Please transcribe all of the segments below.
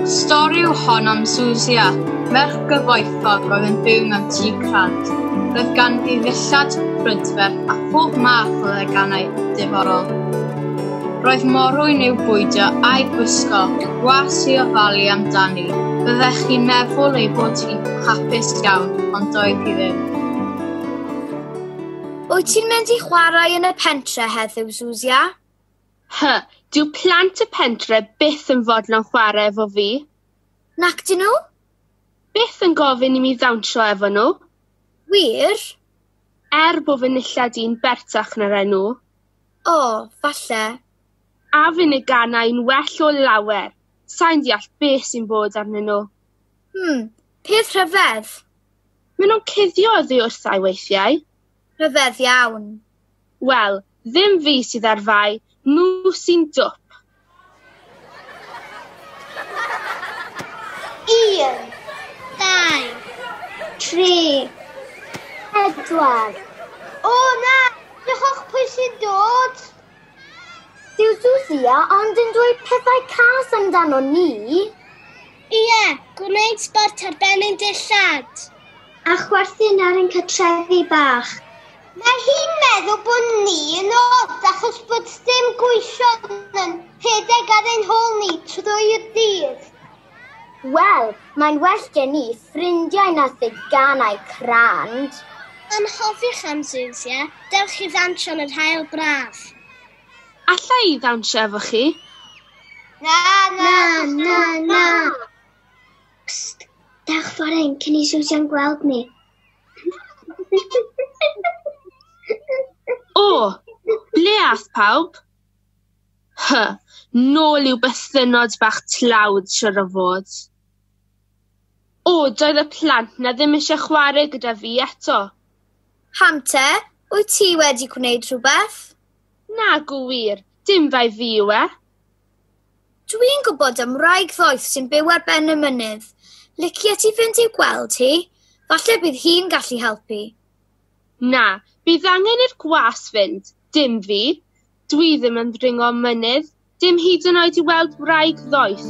Stori yw hon am Susia, merch gyfoethog oedd yn byw mewn tŷ crant. Roedd ganddi ddillad, prydferth a phob math o ddeganau diddorol. Roedd morwyn i'w bwydio a'i gwisgo, gwas i ofalu amdani. Byddech chi'n meddwl ei bod hi'n hapus iawn, ond doedd hi ddim. Wyt ti'n mynd i chwarae yn y pentre heddiw, Zuzia? Hy, dyw plant y pentre byth yn fodlon chwarae efo fi. Nac dyn nhw? Byth yn gofyn i mi ddawnsio efo nhw. Wir? Er bod fy nillad i'n bertach na'r enw. O, falle. A fyn y ganai'n well o lawer. Sai'n deall beth sy'n bod arnyn nhw. Hmm, peth rhyfedd. Maen nhw'n cuddio oddi wrtha i weithiau. Rhyfedd iawn. Wel, ddim fi sydd ar fai, nhw sy'n dwp. Un, dau, tri, pedwar. O na, diolch pwy sy'n dod. Dyw Susia ond yn dweud pethau cas amdano ni. Ie, gwneud sbort ar ben ein dillad. A chwerthin ar ein cytrefi bach. Mae hi'n meddwl bod ni yn od achos bod dim gweision yn rhedeg ar ein hôl ni trwy'r dydd. Wel, mae'n well gen ni ffrindiau na theganau crand. Anghofiwch am Zeus, ie? Dewch i ddawnsio yn yr haul braf. Alla i ddawnsio efo chi? Na, na, na, na! Psst! Dewch fore ein cyn i Zeus iawn gweld ni. O! Ble ath pawb? Hy, nôl i'w bythynnod bach tlawd, siwr o fod. O, doedd y plant 'na ddim eisiau chwarae gyda fi eto. Pam te? Wyt ti wedi gwneud rhywbeth? Nag yw wir, dim bai fi yw e. Dwi'n gwybod am wraig ddoeth sy'n byw ar ben y mynydd. Licia ti fynd i'w gweld hi? Falle bydd hi'n gallu helpu. Na, bydd angen i'r gwas fynd, dim fi. Dwi ddim yn ddringo mynydd, dim hyd yn oed i weld wraig ddoeth.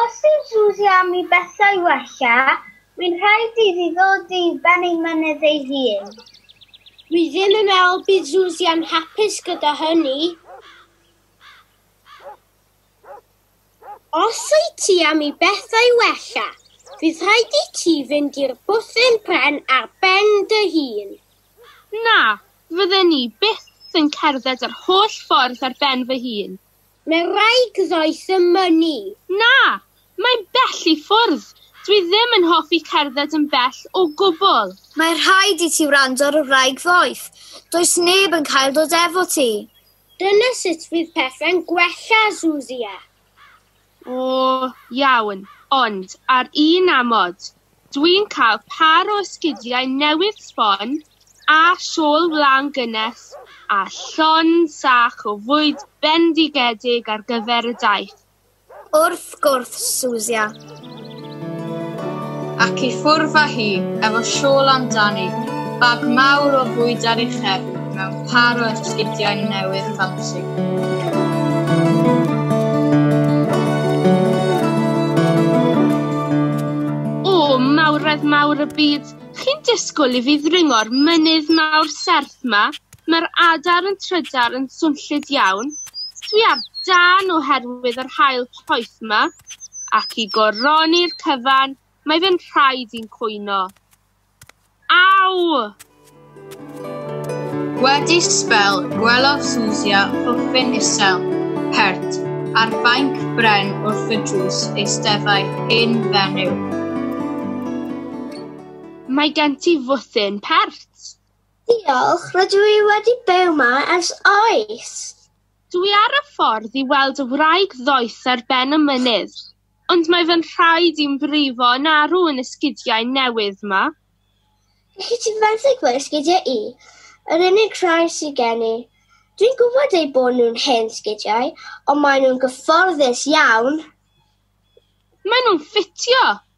Os yw Suzy am i bethau wella, mae'n rhaid iddi ddod i ben ei mynydd ei hun. Dwi ddim yn meddwl bydd Suzy yn hapus gyda hynny. Os wyt ti am i bethau wella, bydd rhaid i ti fynd i'r bwthyn pren ar ben dy hun. Na, fydden i byth yn cerdded yr holl ffordd ar ben fy hun. Mae rhaid ddoes y mynnu. Na! Mae'n bell i ffwrdd. Dwi ddim yn hoffi cerdded yn bell o gwbl. Mae rhaid i ti wrando ar y wraig ddoeth. Does neb yn cael dod efo ti. Dyna sut fydd pethe'n gwella, Zuzia. O, iawn, ond ar un amod. Dwi'n cael pâr o esgidiau newydd sbon, a shawl wlân gynnes, a llon sach o fwyd bendigedig ar gyfer y daith. Wrth gwrs, Susia. Ac i ffwrdd â hi efo siôl amdani, bag mawr o fwyd ar ei chefn mewn pâr o esgidiau newydd ffansi. mawredd mawr y byd, chi'n disgwyl i fi ddringo'r mynydd mawr serth 'ma? Mae'r adar yn trydar yn swnllyd iawn. Dwi ar dân oherwydd yr haul poeth 'ma, ac i goroni'r cyfan, mae fe'n rhaid i'n cwyno. Aw! Wedi sbel, gwelodd Susia pwffyn isel, pert, ar fainc bren wrth y drws eisteddai hen fenyw. Mae gen ti fwthyn pert. Diolch, rydw i wedi byw ma ers oes! Dw i ar y ffordd i weld y wraig ddoeth ar ben y mynydd, ond mae fy nhraed i'n brifo yn arw yn y sgidiau newydd 'ma. Gallet ti fenthyg fy sgidiau i? Yr unig rhai sydd gen i. Dw i'n gwybod eu bod nhw'n hen sgidiau, ond maen nhw'n gyfforddus iawn! Maen nhw'n ffitio!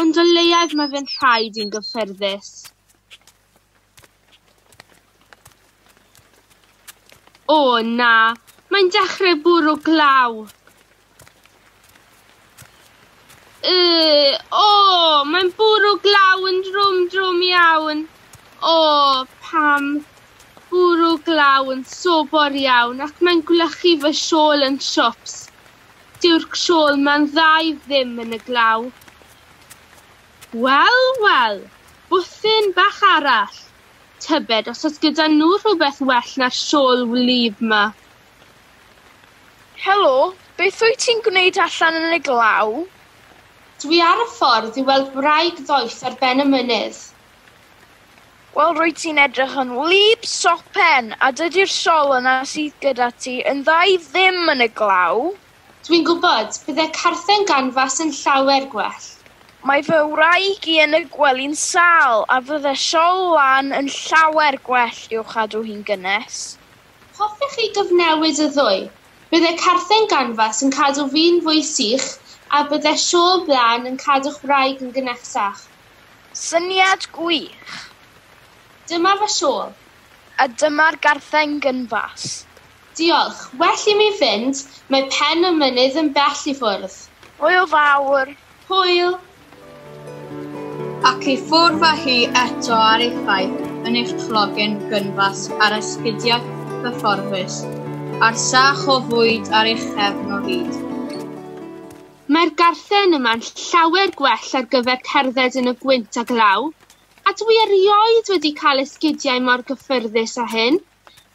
Ond o leiaf mae fe'n rhaid i'n gyffyrddus. O na, mae'n dechrau bwrw glaw. Yy, o, mae'n bwrw glaw yn drwm drwm iawn. O, pam bwrw glaw yn sobor iawn ac mae'n gwlychu fy siôl yn siwps. Dyw'r crawl ma'n dda i ddim yn y glaw. Wel, wel, bwthyn bach arall. Tybed os oes gyda nhw rhywbeth well na'r siôl wlyb 'ma. Helo, beth wyt ti'n gwneud allan yn y glaw? Dwi ar y ffordd i weld wraig ddoeth ar ben y mynydd. Wel, rwyt ti'n edrych yn wlyb sopen, a dydy'r sol yna sydd gyda ti yn dda i ddim yn y glaw. Dwi'n gwybod, bydde carthen ganfas yn llawer gwell. Mae fy wraig i yn y gwely'n sâl, a fydde sol lân yn llawer gwell i'w chadw hi'n gynnes. Hoffech chi gyfnewid y ddwy? Bydde carthen ganfas yn cadw fi'n fwy sych, a bydde sol lân yn cadw'ch wraig yn gynnesach. Syniad gwych! Dyma fy siôl. A dyma'r gartheng gynfas. Diolch. Well i mi fynd, mae pen y mynydd yn bell i ffwrdd. Hwyl fawr! Hwyl! Ac i ffwrdd â hi eto a'r effaith yn eich clogen gynfas a'r esgidiau cyfforddus, a'r sach o fwyd ar eich cefn o hyd. Mae'r garthen yma'n llawer gwell ar gyfer cerdded yn y gwynt a glaw, a dw i erioed wedi cael esgidiau mor gyffyrddus â hyn,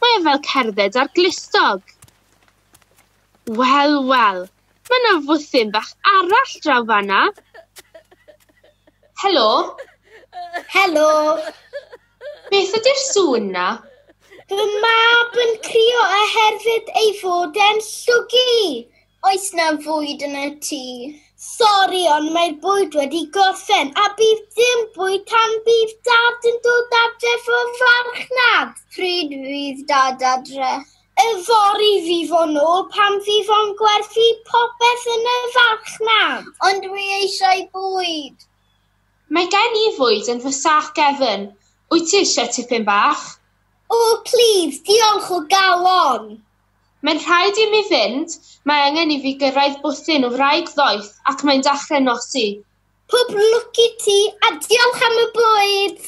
mae o fel cerdded ar glustog! Wel, wel, mae 'na fwthyn bach arall draw fan'na! Helo! Helo! Beth ydy'r sŵn 'na? Fy mab yn crio oherwydd ei fod e'n llwgu! Oes 'na fwyd yn y tŷ? Sori, ond mae'r bwyd wedi gorffen, a bydd dim bwyd tan bydd Dad yn dod adref o farchnad. Pryd fydd Dad adre? Yfory fydd o'n ôl pan fydd o'n gwerthu popeth yn y farchnad. Ond dwi eisiau bwyd! Mae gen i fwyd yn fy sac gefn. Wyt ti eisiau tipyn bach? O, plîs, diolch o galon! Mae'n rhaid i mi fynd, mae angen i fi gyrraedd bwthyn o wraig ddoeth ac mae'n dachrau nosi. Pob lwc i ti a diolch am y bwyd!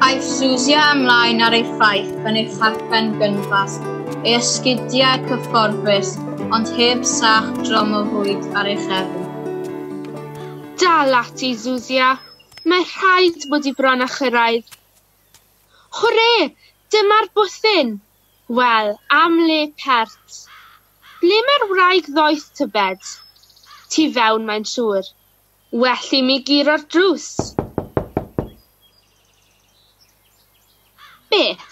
Aeth Susia ymlaen ar ei thaith yn ei thacen gynfas, ei esgidiau cyfforddus ond heb sach drom o fwyd ar ei chefn. Dal ati, Susia! Mae rhaid bod i bron â chyrraedd. Hwre! Dyma'r bwthyn! Wel, am le pert. Ble mae'r wraig ddoeth tybed? Tu fewn mae'n siŵr. Well i mi guro'r drws. Beth?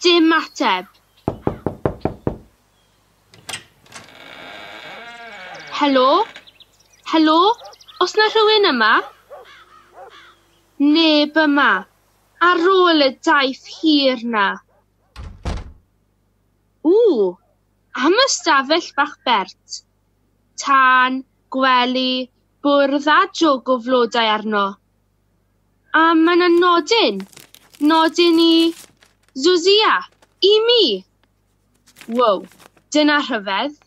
Dim ateb. Helo? Helo? Oes 'na rhywun yma? Neb yma. Ar ôl y daith hir 'na. Ww! Am y stafell bach bert. Tân, gwely, bwrdd a jwg o flodau arno. A mae 'na nodyn. Nodyn i Zuzia. I mi! Wow, dyna rhyfedd!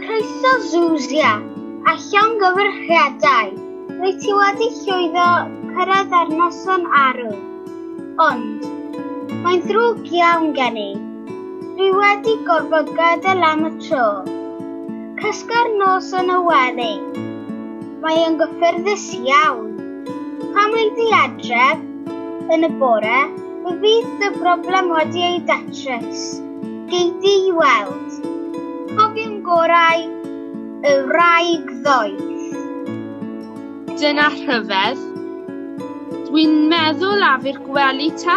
Croeso Zuzia, a llongyfarchiadau! Rwyt ti wedi llwyddo cyrraedd ar noson arw. Ond, mae'n ddrwg iawn gen i. Dwi wedi gorfod gadael am y tro. Cysga'r nos yn y wely. Mae yn gyffyrddus iawn. Pan wyf di adref yn y bore, fe fydd dy broblem wedi ei datrys. Gei di i weld. Cofiwn gorau y wraig ddoeth. Dyna rhyfedd. Dwi'n meddwl afi'r gwely te.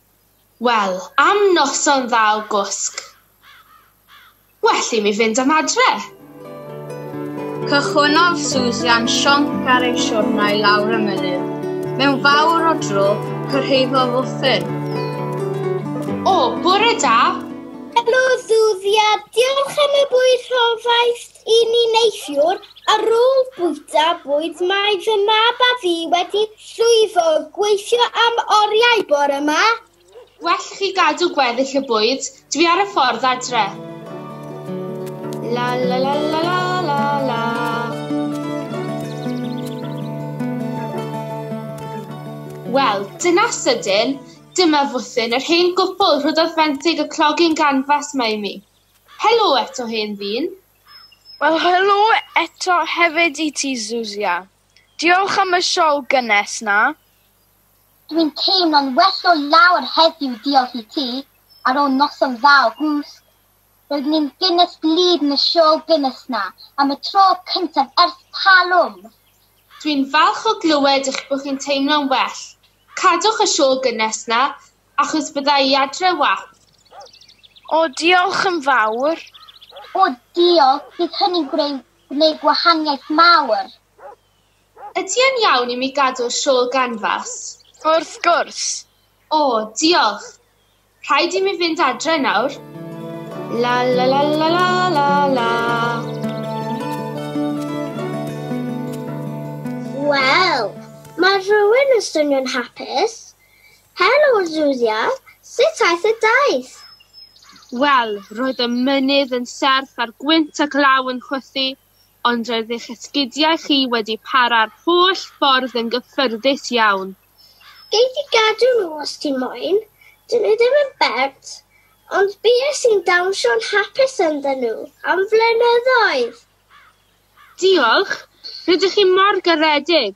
Wel, am noson dda o gwsg, well i mi fynd am adre! Cychwynnodd Susan sionc ar ei siwrnai lawr y mynydd. Mewn fawr o dro, cyrhaeddodd Uthin. O, bore da! Helo, Susan. Diolch am y bwyd rhofaist. I ni neithiwr, ar ôl bwyta bwyd mae fy mab a fi wedi llwyddo gweithio am oriau bore ma. Well i chi gadw gweddill y bwyd, dwi ar y ffordd adre. La la la la la la la. Wel, dyna sydyn, dyma fwthyn yr hen gwpl rhoddodd fenthyg y clogging ganfas 'ma i mi. Helo eto hen ddyn! Wel helo eto hefyd i ti Zuzia. Diolch am y siol gynnes 'na. Dwi'n teimlo'n well o lawr heddiw diolch i ti, ar ôl noson dda o gwsg. Roeddwn i'n gynnes gwlyb yn y siol gynnes 'na, am y tro cyntaf ers talwm! Dwi'n falch o glywed eich bod chi'n teimlo'n well. Cadwch y siol gynnes 'na, Achos bydda i adre wap. O, diolch yn fawr. O, diolch, bydd hynny'n gwneud gwahaniaeth mawr. Ydy e'n iawn i mi gadw'r shawl ganfas? Wrth gwrs. O, diolch. Rhaid i mi fynd adre nawr. La la la la la la la. Wel, mae rhywun yn swnio'n hapus. Helo Julia, sut aeth y daith? Wel, roedd y mynydd yn serth a'r gwynt a glaw yn chwythu, ond roedd eich esgidiau chi wedi para'r holl ffordd yn gyffyrddus iawn. Gei di gadw nhw os ti moyn, dyn nhw ddim yn bert, ond bues i'n dawnsio'n hapus ynddyn nhw am flynyddoedd! Diolch! Rydych chi mor garedig!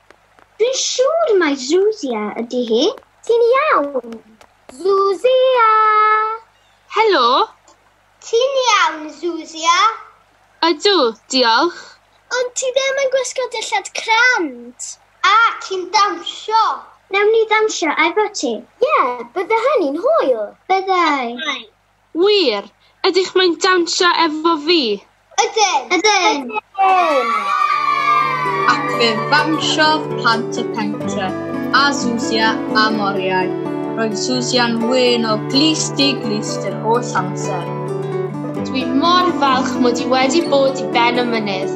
Dwi siŵr mai Zuzia ydy hi. Ti'n iawn, Zuzia? Helo. Ti'n iawn, Zuzia? Ydw, diolch. Ond ti ddim yn gwisgo dillad crand. A, ti'n dawnsio? Newn ni ddawnsio efo ti. Ie, bydde hynny'n hwyl. Byddai. Wir! Ydych mae'n dawnsio efo fi? Ydyn! Ydyn! Ac fe ddawnsiodd plant y pentre, a Zuzia a Moriau. Roedd Zuzia'n wyn o glust i glust yr holl amser. Dwi mor falch mod i wedi bod i ben y mynydd.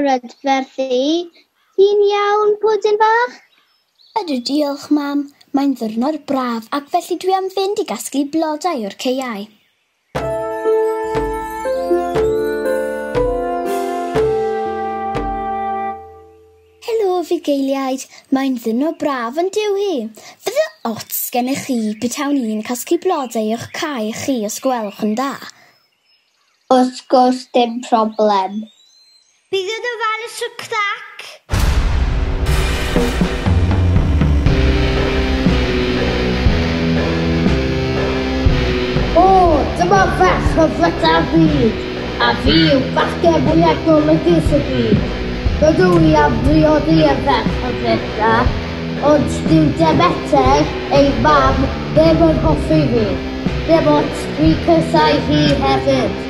brydferth i. Ti'n iawn, pwdin bach? Ydw, diolch, mam. Mae'n ddwrnod braf ac felly dwi am fynd i gasglu blodau o'r caeau. fugeiliaid, mae'n ddyno braf yn diw hi. Fydde ots gennych chi betawn i'n casglu blodau o'ch cae chi os gwelwch yn dda. Wrth gwrs dim problem. Bydd yn ofalus o crac! O, dyma ferch o fryda'r byd, a fi yw bachgen fwyaf golygus y byd. Rydw i am briodi y ferch o fryda, ond dyw Demeter, ei mam, ddim yn hoffi fi, dim ots, dwi'n casáu hi hefyd.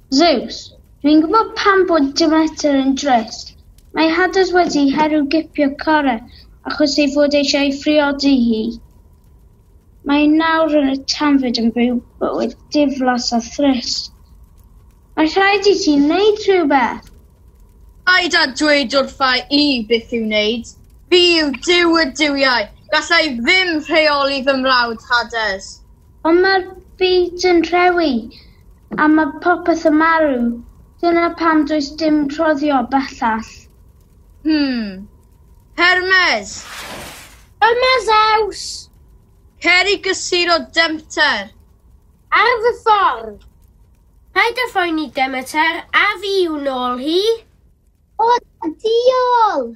Zeus, Dwi'n gwybod pam bod Demeter yn drist. Mae Hades wedi herw gipio Chore achos ei fod eisiau ei phriodi hi. Mae nawr yn y tanfyd yn byw bywyd diflas a thrist. Mae rhaid i ti wneud rhywbeth! Paid â dweud wrtha i beth i'w wneud. Fi yw Duw y duwiau. Galla i ddim rheoli fy mrawd, Hades. Ond mae'r byd yn rhewi, a mae popeth yn marw. Dyna pam does dim rhoddio bellach. Hmm. Hermes! Ym mae Zeus! Cer i gysur o Demter! Ar fy ffordd! Paid â phoeni Demeter, a fi yw nôl hi! O, diolch!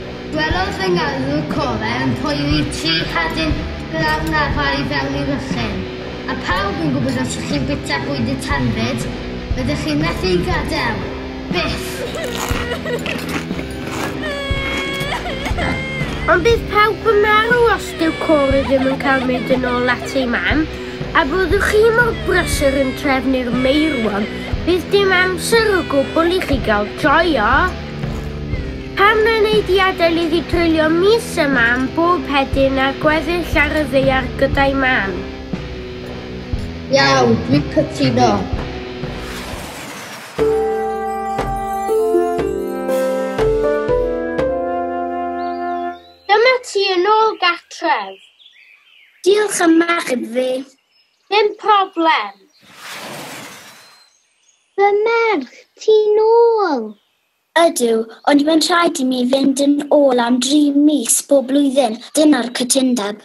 Gwelodd fy ngarwr cole yn poeri tri chadyn glaw na ddau i fewn i Ruthun. A phawb yn gwybod os ych chi'n bwyta bwyd y tanfyd, rydych chi'n methu ei gadael. Byth! Ond bydd pawb yn marw os dyw Cory ddim yn cael mynd yn ôl at ei mam, a byddwch chi mor brysur yn trefnu'r meirwon, bydd dim amser o gwbl i chi gael joio! Pam na wnei di adael iddi dreulio mis yma am bob hedyn a gweddill ar y ddaear gyda'i mam? Iawn, dwi'n cytuno. Dyma ti yn ôl gartref. Diolch am achub fi. Dim problem. Fy merch, ti'n ôl! Ydw, ond mae'n rhaid i mi fynd yn ôl am dri mis bob blwyddyn, dyna'r cytundeb.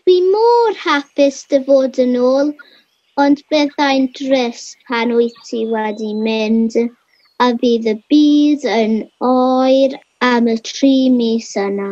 Dwi mor hapus dy fod yn ôl, ond byddai'n drist pan wyt ti wedi mynd a fydd y byd yn oer am y tri mis yna.